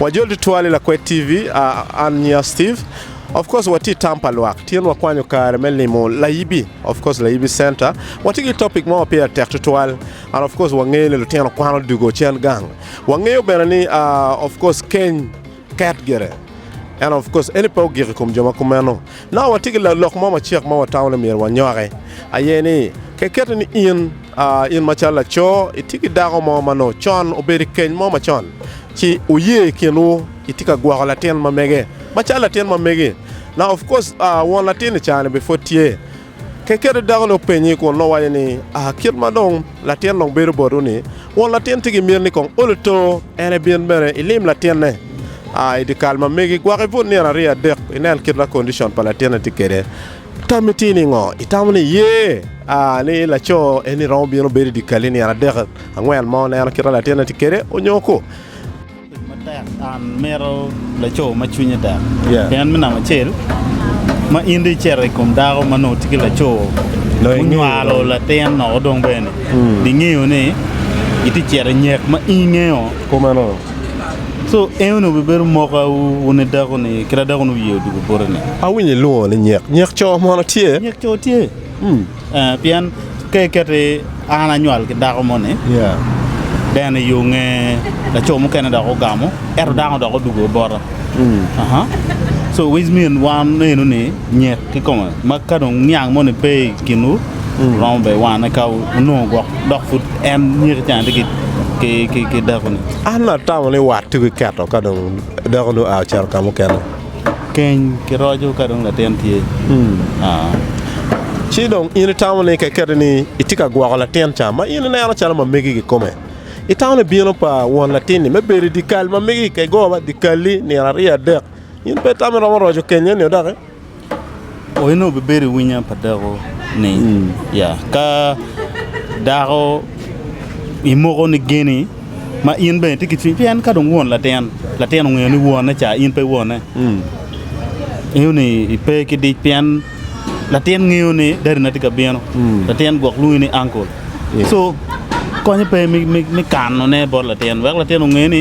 Wajol tutwal i Lakwed TV, ah, an nya Steve. Of course watye i tam pa lwak. Tyen wakwanyo kare me limo Layibi, of course Layibi Center. Watye ki topic mo ma pire tek tutwal. And of course wangeyo ni lutino kwano dugo cen gang. Wangeyo bene ni ah, of course keny Ket gire. Ento, of course, eni pe ogik i kom jo ma kumeno. Naka watye ki lok mo macek ma watamo ni myero wanyoki, aye ni, kekette ni in, in macalo laco, itye ki dako mo ma nongo con obedo i keny mo macon, ci wuye i kinwu, itye ka gwoko latin ma mege, macalo latin ma megi. Naka of course, won latin-ni caa-ni bipud tye. Kekere dako-ni openye kun nongo waco ni, Aa, kit ma dong latin dong bedo botwu-ni, won latin tye ki myel ni kong ol eto, en ebin bene ilim latinne. Aa, i dyekal ma megi, gwok ibut nino aryo adek, inen kit ma kondicon pa latinne tye kwede. Tammi tye ningo? Itamo ni iye, aa, ni laco eni romo bino bedo i dyekal-li nino adek, angwen mo, neno kit ma latinne tye kwede, onyo ko? Tic matek and mito laco ma cwinye tek pien me namba acel ma in dong icito i kom dako ma nongo tye ki laco munywalo latin noko dong bene bingeyo ni itye cito i nyek ma in ingeyo kumeno so en onongo bibedo moka wu wun i dako ni kit adako ni wiye odugo boteni. Awinyo ilwongo ni nyek, nyek coo mono tye? Nyek coo tye. Eh, pien ka iketi an anywal ki dako moni Yeah. deno i yo nge laco mukene dok ogamo ento dano dok odugo bota Aha. so which mean wan eno ni nyek ki kome ma ka dong niang moni pe i kinwu romo be wane ka onongo gwok dok pud en nyeki cen tye ki- ki- ki- ki dakoni An atamo ni wat tuki keto ka dong dako nu a ocito ka mukene. Keny ki roco ka dong latin tye. Ci dong in itamo ni ka iketi ni itye ka gwoko latin ca ma in ineno calo ma megi kikome, itamo ni bino pa won latin-ni me bedo i dyekal ma megi kikegowa dyekal-li nino aryo adek, in pe itamo iromo roco keny eni-o doki? Onongo wubibedo i winyo pa dako ni ya ka dako imoko ni geni ma in bene itye ki cwiny pien ka dong won latin latin ongeyo ni wone ca in pe wone ingeyo ni ipe ki dic pien latin ngeyo ni dadi na tye ka bino latin gwok lwongi ni angkol so konye pe me kano ne bot latin wek latin onge ni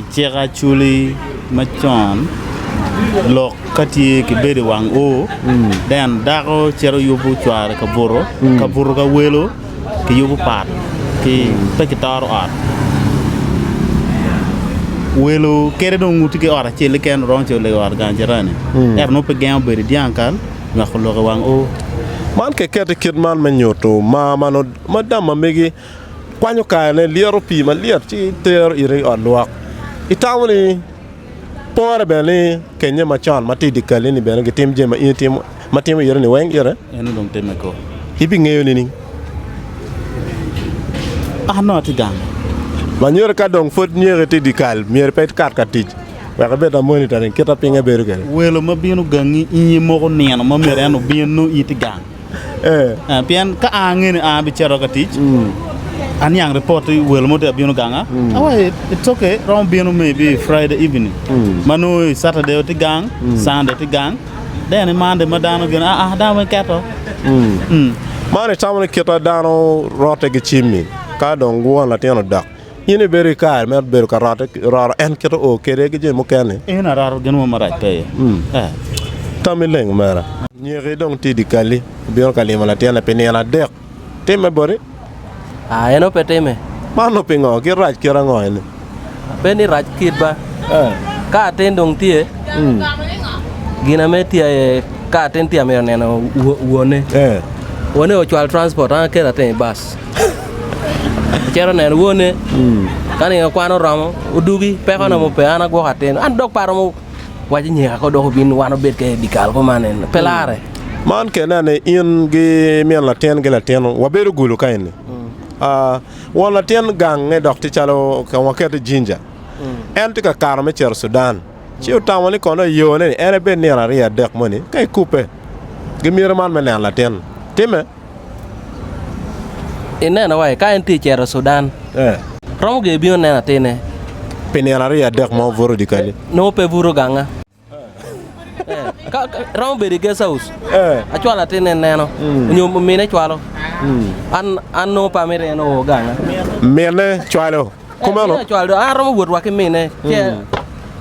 I cik Acholi macon, lok ka tye ki bedo i wang oo then dako cito yubu cware ka buto ka buto ka welo ki yubu pat ki pe ki toro ot welo kadi dong wuti ki ot acel keken romo cito lego ot gang jirani ento nongo pe gengo bedo i dyang kal nywako lok i wang oo. Man ki keto i kit man me nyutu mar ma nongo ma dama megi. Kwanyo karene, lyeto pii malyet ci itero ite i ot lwok. Itamo ni pore bene ni kenye macon ma tye i dye kalli-ni bene gitim jami ma in itimo ma timo ite-ni weng ite? En onongo timme kong. Ibingeyo nining? An onongo atye gang. Manyodi ka dong pud nyeki tye i dye kal, myero pe ikat ka tic wek ibed ma monitoring kit ma pinye bedo kwede. Welo ma bino gangi inge moko nino ma myero en obin nongo in itye gang. Pien ka an angeyo ni an abicito ka tic, aniang ripot ni welo mo tye ka bino ganga. Awaci, it's okay, romo bino maybe Friday evening. Ma nongo i Saturday watye gang, Sunday tye gang. Then i Monday ma dano gin, ah, ah, dano weng keto. Man itamo ni kite dano rotte ki cimmi ka dong guwan latin odok. In ibedo i kare me bedo ka rote, roro en kite o kede ki jami mukene. In aroto gin mo marac pe iye. Mm. Eh. Tami leng omera. Nyeki dong tye di kali, obino ka limo latinne pi nino adek. Timme boti? Ah, eno pe timme. Mano pingo? Kit rac kit ango eni? Pe ni rac kit ba. Eh. Ka atin dong tye, Mm. gin ame tye aye ka atin tye amito neno wo- wone. Eh. Wone ocwal transport, an aketa teng i bus. Cito neno wone, ka nino kwan oromo, odugi, peko na mo pe, an agwoko atin. An dok pe aromo waco nyeka ko dok obin wan obed kene dye kal kuman en, pe larre. Man kene anene in ki min latin ki latin wabedo gulu ka eni. Ah, won latin gange dok tye calo ka wakete Jinja. En tye ka kato me cito Cudan. Ci otamo ni kono i yone-ni en ebed nino aryo adek moni ka ikubbe. Gimyero man me neno latin timme. I neno wa ka en tye cito Sudan romo gin ebino neno atine pi nino aryo adek ma obuto dikali nongo pe buto ganga romo bedo i guest house acwalo atine neno hmm. nyo mine cwalo hmm. an an nongo pa mire en oo ganga mine cwalo eh, kumeno cwalo an romo wot wa ki mine hmm.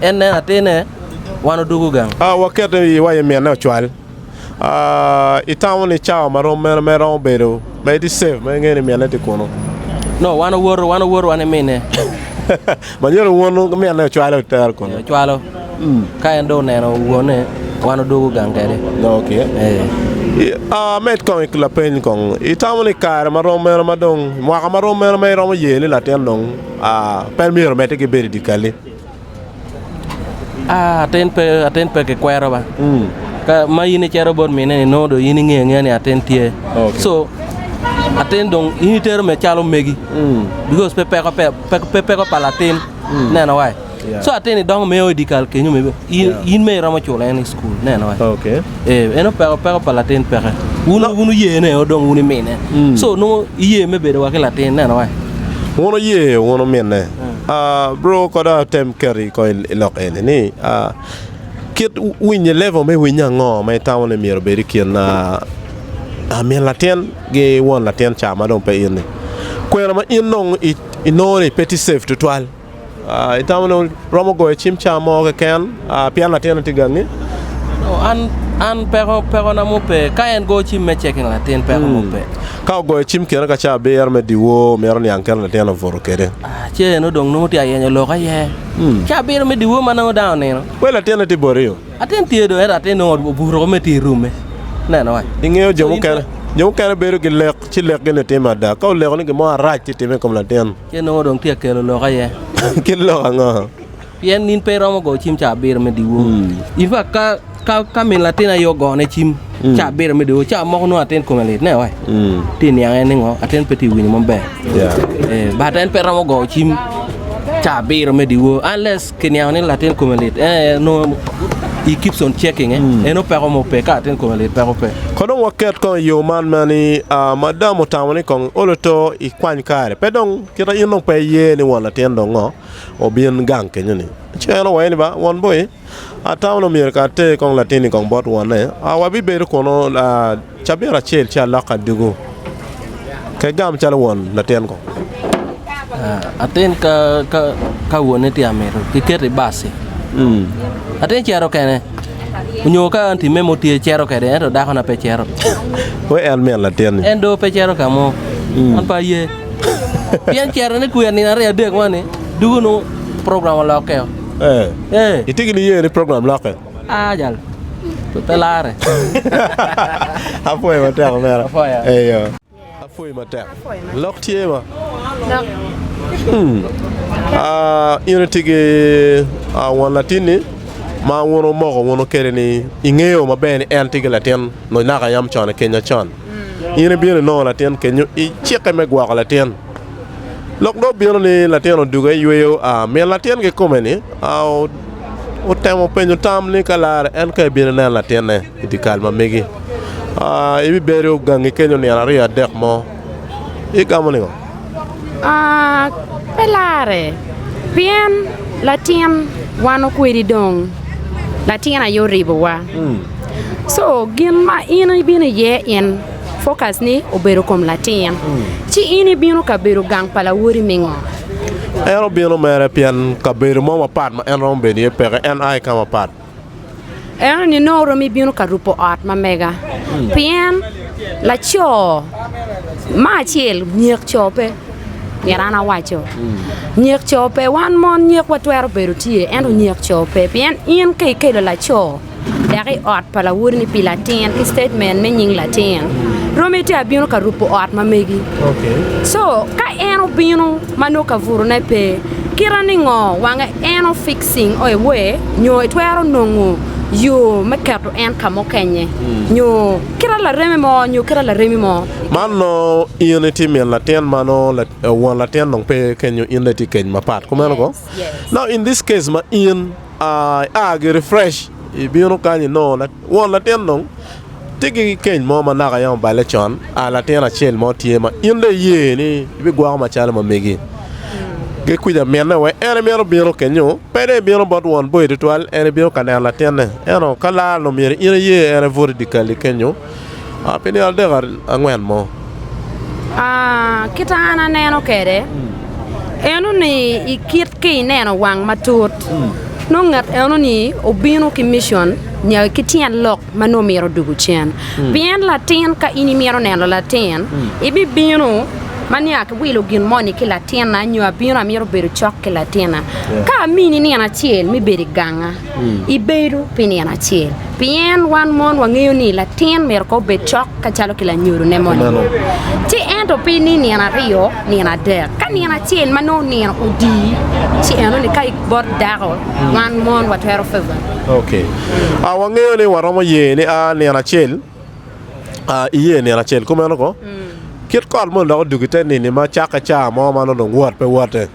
en neno atine wan odugu gang a ah, wakete i wa mine ocwal Itamo ni cawa ma rom mene mere romo bedo ma itye safe ma ingeyo ni minne tye kunu? Nongo wan owoto, wan owoto wan ki minne. Manyodo wunu ki minne ocwale otere kunu? Ee, ocwalo. Ka en dong oneno wonne, wan odwogo gang kwede. Ok. Ee. I- ah, Med kong i lapeny kong. Itamo ni kare ma rom mene ma dong mwaka ma rom mene ma iromo ye ni latin dong ah, pe myero omedde ki bedo i dye kalli? Atin pe ki kwero ba ma in icito bot mine ni nongo dong in ingeyo angeya ni atin tye so atin dong in itero mere calo megi because pe peko pa latin ineno wa so atin ni dongo mere o idikal kenyo in mere iromo culo en i cukul ineno wa eno peko pa latin peke wun wuye ne o dong wun imine so nongo iye me bedo wa ki latin ineno wa. Bro kono atem keto i kom i lok eni ni kit winyo level me winyo ango ma itamo ni myero obed i kin min latin ki won latin ca ma dong pe in ni kwena ma in dong inongo ni pe tye cef twatwal itamo ni romo goyo cim ca mo keken pien latin-ni tye gangi? An peko na mo pe ka en goyo cim me ceking latin peko mo pe. Ka ogoyo cim kene ka caa abiro me dyewor, omyero oniang kit ma latin obuto kwede. Ce en odong nongo tye ka yenyo lok aye. Caa abiro me dyewor ma nongo dano onino. Wel latinne tye borio. Latin tye do, ento latin nongo obuto woko mere tye i rume. Neno wa. I ngeyo jo mukene, jo mukene bedo ki lek, ci lekgi ni timme ada. Ka oleko ni gin mo arac tye timme i kom latin. Ce nongo dong tye ka kelo lok aye. Kit lok ango? Pien in pe iromo goyo cim ca abiro me dyewor. In pe ka, ka, ka min latin aye ogone cim ca abiro me dyewor, ca moko nongo atin kome lit, neo, eh, tye niang en ningo, atin pe tye winyo maber. Eh, but en pe romo goyo cim ca abiro me dyewor, unless kiniango ni latin kome lit, eh, nongo he keeps on checking, eh, en opeko mo pe, ka latin kome lit peko pe. Ko dong waket kong i yo man ma ni, ah, madam otamo ni kong iolo to ikwany kare, pe dong, kita in dong pe iye ni won latin dong ngo. obin gang kenyo ni, Ci en owaye ni, Ba, won boi, atamo ni omyero ka ater kong latin-ni kong bot wonne, a wabibedo kunu cabit acel ci alok adugu ke gam calo won latin kong. Atin ka wonne tye amito kiketo i baci, atin cito kene, onyo ka an timme mo tye cito kede, ento dako na pe cito. Wek en min latin-ni. En do pe cito kamo, an pe aye. Pien cito ni kwir nino aryo adek moni dugu nongo program olokke o. Eh. Itye ki niye ni program lokke? Ah jal. Pe lare. Apwoyo matek omera. Apwoyo. Eyo. Apwoyi matek. Lok tye ma. Lok. Hmm. Ah, in itye ki ah, won latinni ma wun omoko wunu kede ni ingeyo maber ni en tye ki latin naka yam con i Kenya con. In ibino inongo latin kenyo i cikke me gwoko latin. Lok dong obino ni latin oduge yweyo, min latin ki kome-ni otemo penyo tam ni ka larre en ka ebino inen latinne i dye kal ma megi. Ibibedo gangi kenyo nino aryo adek mo. Igamo ningo? Pe larre pien latin wan okwedi dong latin aye oribowa so gin ma in ibino iye in focus ni obedo kom latin ci in ibino ka bedo gang pa lawoti me ngo? En obino mere pien kabedo mo mapat ma en romo bedo iye peke en aye ka mapat. Eno ni nongo oromo ibino ka rupo ot ma mega, pien laco ma acel nyek co pe, myero an awaco, nyek co pe, wan mon nyekwa twero bedo tye ento nyek co pe, pien in ka ikelo laco dek i ot pa lawoti ni pi latin ki statement me nying latin, romo ite abino ka rupo ot ma megi, so ka en obino ma nongo kaburune pe, kite ningo wange eno fixing or away nyo itwero nongo yo me keto en ka mukenye nyo kite lareme mo nyo kite laremi mo. Man nongo in itye min latin ma nongo won latin dong pe kenyo in dong itye keny mapat kumeno ko now in this case ma in I a giri fresh ibino kany inongo won latin dong tye ki keny mo ma naka yam oballe con a latin acel mo tye ma in dong iye ni ibigwoko macalo ma megi ki kwica minne wek en emito bino kenyo pe dong ibino bot won boyi tutwal en ibino ka neno latinne ento ka lar onongo myero in iye en ebut idyekal-li kenyo Pi nino adek angwen mo. Kit ma an aneno kwede eno ni i kit ki ineno wang matut nongo ngat eno ni obino ki mition nyo ki tyen lok ma nongo myero odugu cen pien latin ka in imito neno latin ibibino ma nongo akiwilo gin mo ni ki latina nyo abino amito bedo cok ki latina ka amini nino acel me bedo i ganga. ibedo pi nino acel pien wan mon wangeyo ni latin myero kong obed cok kacalo ki lanyodo ne moni ci ento pi ni nino aryo nino adek ka nino acel ma nongo nino odi ci enoni ka bot dako wan mon watwero ok a wangeyo ni waromo ye ni a nino acel a iye nino acel kumeno kong kit kot moni dok odugo ite nini ma cakke caa mo ma nongo dong wot pe wote.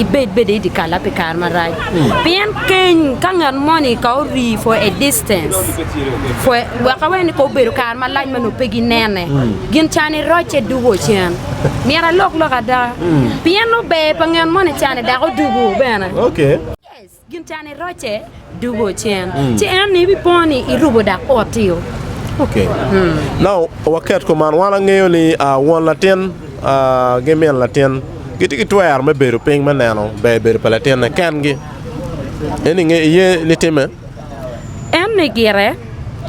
Ibed bene i dyekal-la pi kare marac, pien keny ka ngat moni ka orii for a distance for wek awene ni ka obedo kare malac ma nongo pe ginene, gin can irocce dugo cen. Myero alok lok ada, pien ober pa ngat moni cane dok odugo bene. Gin cani rocce dugo ocen, ci en ni ibipo ni irubo dak otio. Ok. Now waket kom man, wan angeyo ni won latin ki min latin gitye ki twero me bedo piny me neno ber bedo pa latinne kengi. En inge iye ni timme? En ni gire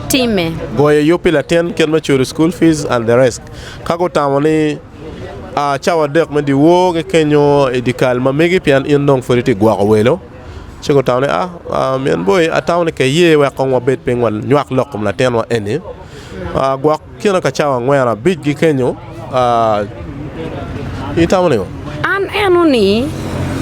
timme. Goyo yub pi latin kit me culo school fees and the rest. Ka gutamo ni. Cawa adek me dyewor kikenyo i dyekal ma megi pien in dong pud itye ka gwoko welo. Ci gutamo ni, Min boi, atamo ni ka iye wek kong wabed piny wanywak lok i kom latinwa eni. Gwok kine ka cawa angwen abic gikenyo. In itamo nego? An eno-ni,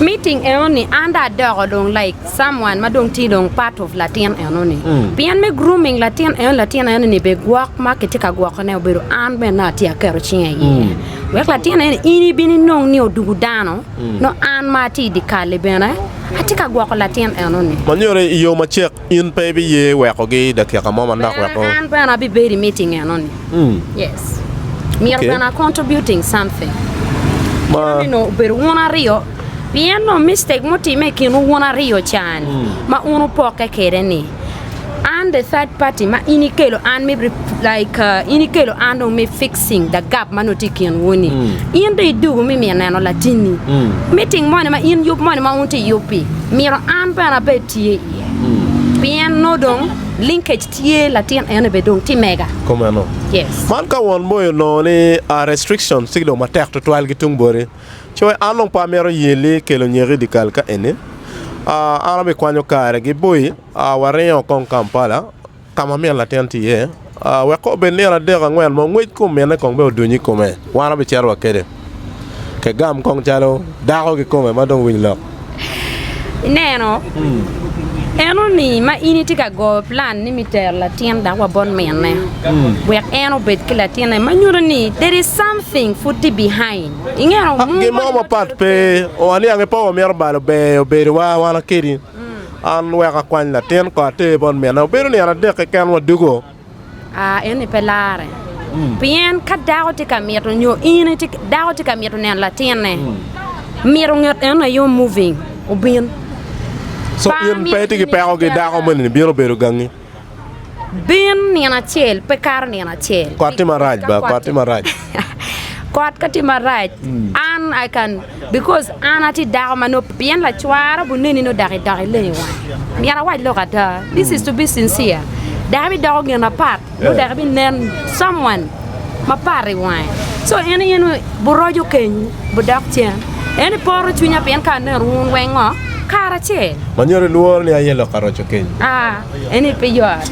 miting enoni an dong adoko dong laik someone ma dong tye dong part of latin eno ni pien me grooming latin eno latin eno ni be gwok ma kitye ka gwoko ne obedo an bene na atye aketo cinga i iye wek latin eno ni in ibin inong ni odugu dano no an ma atye i di kali bene atye ka gwoko latin eno ni Ma nyuto ni i yo macek in pe ibiye wekogi i dakika mo manok wek bene o. an bene abibedo i meeting eno ni yes myero Okay. bene a contributing something Ma. nino obedo wun aryo Pien nongo mistake mutimme i kinwu wun aryo can ma wun wupokke kwede ni, I'm the third party ma in ikelo an me rep- like uh, in ikelo an dong me fixing the gap ma nongo tye i kinwu ni. In dong idugo me miyo neno latinni. Meeting moni ma in yub moni ma wun tye iyub-bi, myero an bene abed tye iye. Pien nongo dong linkage tye latin eno bene dong tye mega. Kumeno, Yes. man ka won boyo nongo ni a restriction ci dong matek tutwal ki tung boti. Coe, An dong pe amito ye li kelo nyeki idikal ka eni. An abi kwanyo kare gi boi, waringo kong Kampala kama min latin tye iye, wek ka obed nino adek angwen mo ngwec kom mine kong bene odunyo ikome, wan wabi cito wa kede. Kegam kong calo dako kikome madong winylok. Ineno? Eno-ni ma in itye ka goyo plan ni mi tero latin dak wa bot minne, wek en obed ki latinne, ma nyuto ni there is something pud tye behind. Ingeto? Ha, Mung gin mo moni mapat wacodo pe. kwede. O, aniang-nge pa wamito balo beyo bedowa wan kedi. An wek akwany latin ko ater bot minna. Obedo nino adek keken wadwogo. A En-ni pe larre. Pien ka dako tye ka mito nyo in itye, dako tye ka mito neno latinne, mito nget en aye omoving obin. Co Par in ni pe itye ki in peko ki itye dako dala. moni-ni bino bedo gangi. Bin nino acel, pe kato nino acel. Kot tye marac Ka ba, kot tye marac. Kot ka tye marac, an I can Because an atye dako ma nop pien lacwara obuneni nongo dok idok ileng i wanga. Myero awac lok ada. This is to be sincere. Dako bidoko gin mapat nongo dako binen someone mapat i wange. So en in buroco kenyu budok cen. En i poro cwinya pien ka aneno wun weng ngo kara acel. Manyero ilworo ni aye lok aroco keny? Ah, en i pe yot.